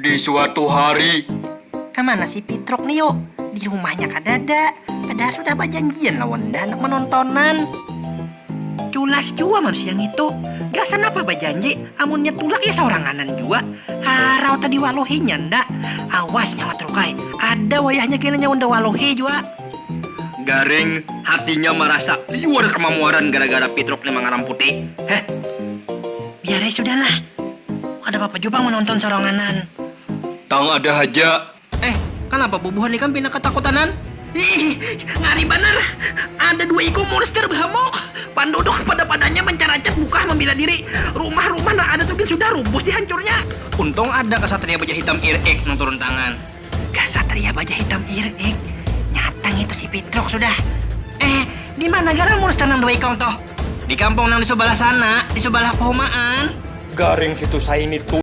Di suatu hari. Kamana si Pitruk ni yuk? Di rumahnya kadada, padahal sudah bajanjian lawan Danak manontonan. Culas jua manusia ngitu, gasan apa bajanji amunnya tulak ya sauranganan jua. Harau tadi waluhinya nda. Awas nyawa Truk ai, ada wayahnya kena nyawa nda waluhi jua. Gareng, hatinya marasa liur kamamuaran gara-gara Pitruk ni mangaramputi. Heh. Biar ai sudah lah. Kada papa jua pang manonton soronganan. Tang ada haja. Eh, kanapa bubuhan ikam pina katakutanan? Hiih, ngari banar. Ada dua ikung monster bahamuk. Panduduk pada-padanya mancaracak bukah mambila diri. Rumah-rumah nang ada tu gin sudah rubus dihancurnya. Untung ada kasatria baja hitam ir ik nang turun tangan. Kasatria baja hitam irik, nyata ngitu si Pitruk sudah. Eh, di mana garang Murster nang dua ikong tuh? Di kampung nang di subalah sana, di subalah pohomaan. Garing situ saini tuh.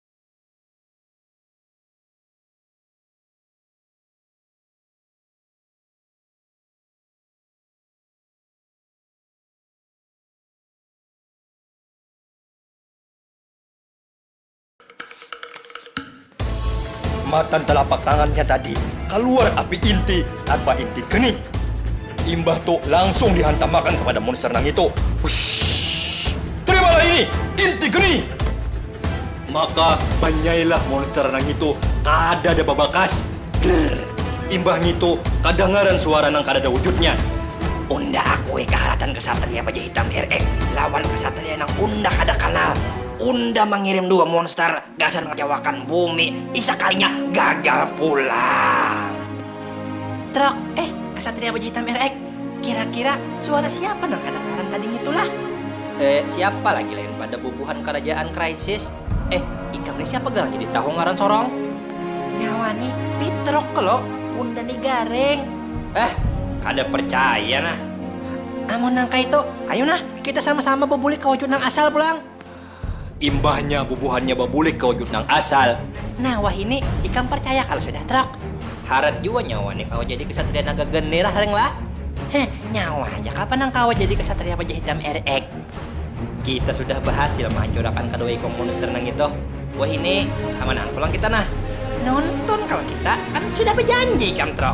Matan talapak tangannya tadi kaluar api inti tanpa inti kening. Imbah tu langsung dihantamakan kapada monster nangitu. Hushhh. Terimalah ini, inti kening! Maka, banyailah monster nangitu kadada babakas. Drrrr. Imbah ngitu, kadangaran suara nang kadada wujudnya. Unda akui kaharatan Ksatria Baja Hitam RX lawan ksatria nang unda kada kanal. Unda mangirim dua monster gasan mangacawakan bumi, ni sakalinya gagal pulang. Trok, Eh, Ksatria Baja Hitam RX. Kira-kira suara siapa nang kadangaran tadi ngitu lah? Eh, siapa lagi lain pada bubuhan karajaan Crisis. Eh, ikam nih siapa garang jadi tahu ngaran sorong? Nyawa ni Pitruk klo, unda ni Gareng. Hah, kada percaya nah. Amun nang kaitu, ayu nah kita sama-sama babulik ka wujud nang asal pulang. Imbahnya bubuhannya babulik ka wujud nang asal. Nah wahini ikam parcaya kalo sudah trok. Harat jua nyawa ni kawa jadi ksatria naga geni lah leng lah. Heh nyawa haja kah pan nang kawa jadi ksatria baja hitam RX. Kita sudah bahasil mahancurakan kadua ikung monster nang itu. Wahini kamanaan pulang kita nah. Nonton kalo kita, kan sudah bajanji ikam trok.